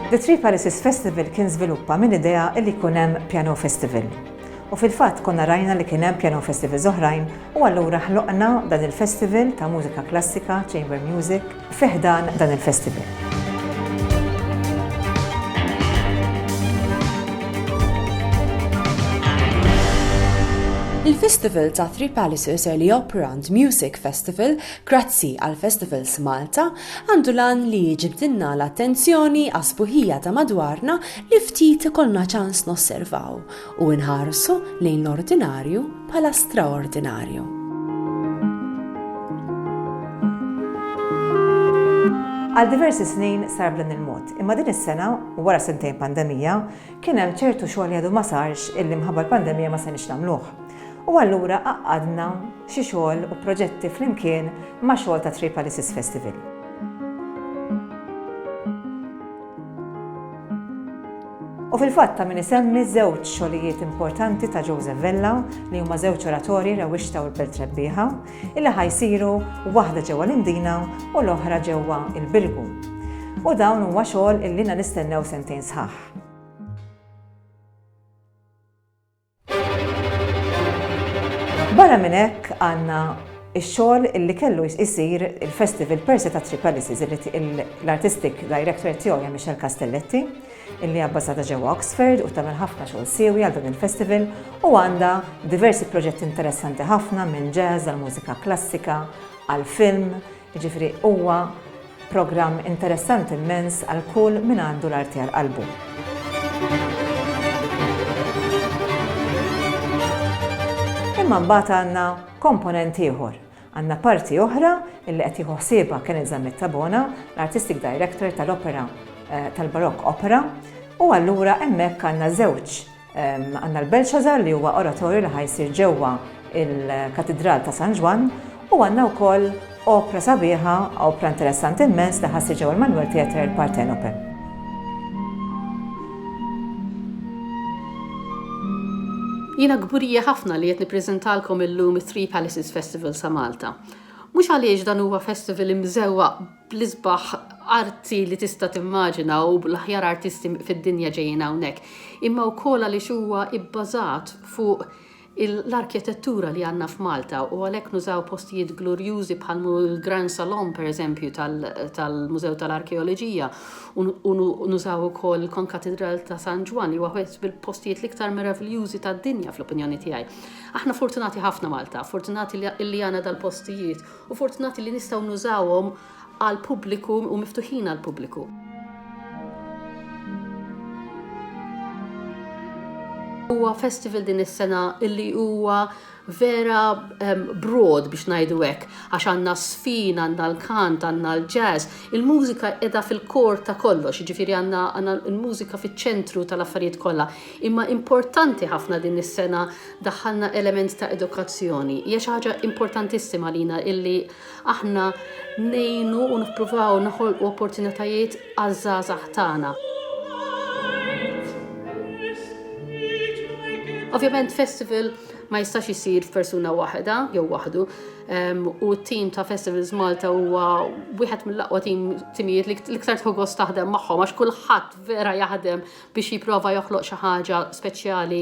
The Three Palaces Festival kien żviluppa minn idea li jkun hemm Piano Festival. U fil-fatt konna rajna li kien hemm piano festivals oħrajn u allura ħloqna dan il-festival ta' mużika klassika, chamber music, fi ħdan dan il-festival. Il-festival ta' Three Palaces Early Operant Music Festival, grazzi għal Festivals Malta, għandu lan li jġibdinna l-attenzjoni għasbuħija ta' madwarna li ftit ikollna ċans nosservaw u nħarsu lejn l-ordinarju bħala straordinarju. Għal diversi snin sar b'dan il-mod, imma din is-sena, wara sentejn pandemija, kien hemm ċertu xogħol jadu ma sarx illi mħabba l-pandemija ma se nagħmluh. U allura qaqqadna xi xogħol u proġetti flimkien ma' xogħol ta' Tripalisis Festival. U fil-fatt ta' min isemmi żewġ xogħlijiet importanti ta' Joseph Vella li huma żewġ oratorji Rewwixta u l-Belt Rebbieħa, illi ħa jsiru waħda ġewwa l-Imdina u l-oħra ġewwa l-Birgu. U dawn huwa xogħol illi ilna nistennew sentejn sħaħ. Barra minn hekk għandna ix-xogħol li kellu jsir il-Festival Persi ta' Three Palaces l-Artistic Director tiegħu hija Michelle Castelletti illi abbażata ġewwa Oxford u tagħmel ħafna xogħol siewi għal dan il-festival u għandha diversi proġetti interessanti ħafna minn jazz għal mużika klassika għal film Jiġifieri huwa programm interessanti mmens għal kull min għandu l-arti għal qalbu. Imma mbagħad għandna komponent ieħor. Għandna parti oħra illi qed jieħu ħsiebha kien iżammet Tabona, l-Artistic Director tal-Opera eh, tal-Barokk Opera, u allura hemmhekk għandna żewġ Għandna l-Belshazzar li huwa oratorju li ħajsir ġewwa il-Katidral ta' San Ġwann u għandna wkoll opra sabiħa, opra interessanti immens li ħassir ġewwa l-Manuel Theatre il-Partenope. Jiena kburija ħafna li qed nippreżentalkom illum it-Three Palaces Festival sa Malta. Mhux għaliex dan huwa festival imżewwaq bl-isbaħ arti li tista' timmaġina u bl-aħjar artisti fid-dinja ġejjin hawnhekk, imma wkoll għaliex huwa bbażat fuq l-arkitettura li għandna f'Malta u għalhekk nużaw postijiet glurjużi bħal l-Grand Salon pereżempju tal-Mużew tal-Arkeoloġija u nużaw ukoll il-Konkatidral ta' San Ġwann li huwa wieħed mill-postijiet l-iktar meraviljużi tad-dinja fl-opinjoni tiegħi. Aħna fortunati ħafna Malta, fortunati li għandna dal-postijiet U fortunati li nistgħu nużawhom għall-pubbliku u miftuħin għall-pubbliku. Huwa festival din is-sena illi huwa vera um, broad biex ngħidu hekk, għax għandna sfin, għandna l-kant, għandna l-jazz, il-mużika qiegħda fil-kor ta' kollox, jiġifieri għandna l-mużika fiċ-ċentru tal-affarijiet kollha. Imma importanti ħafna din is-sena daħħalna element ta' edukazzjoni. Hija xi ħaġa importantissima għalina illi aħna ngħinu u nippruvaw noħolqu opportunitajiet għaż-żgħażagħ tagħna. Ovvjament festival ma jistax isir f'persuna waħda jew waħdu u t-tim ta' Festivals Malta huwa wieħed mill-aqwa tim timijiet li iktar tħoggos taħdem magħhom għax kulħadd vera jaħdem biex jipprova joħloq xi ħaġa speċjali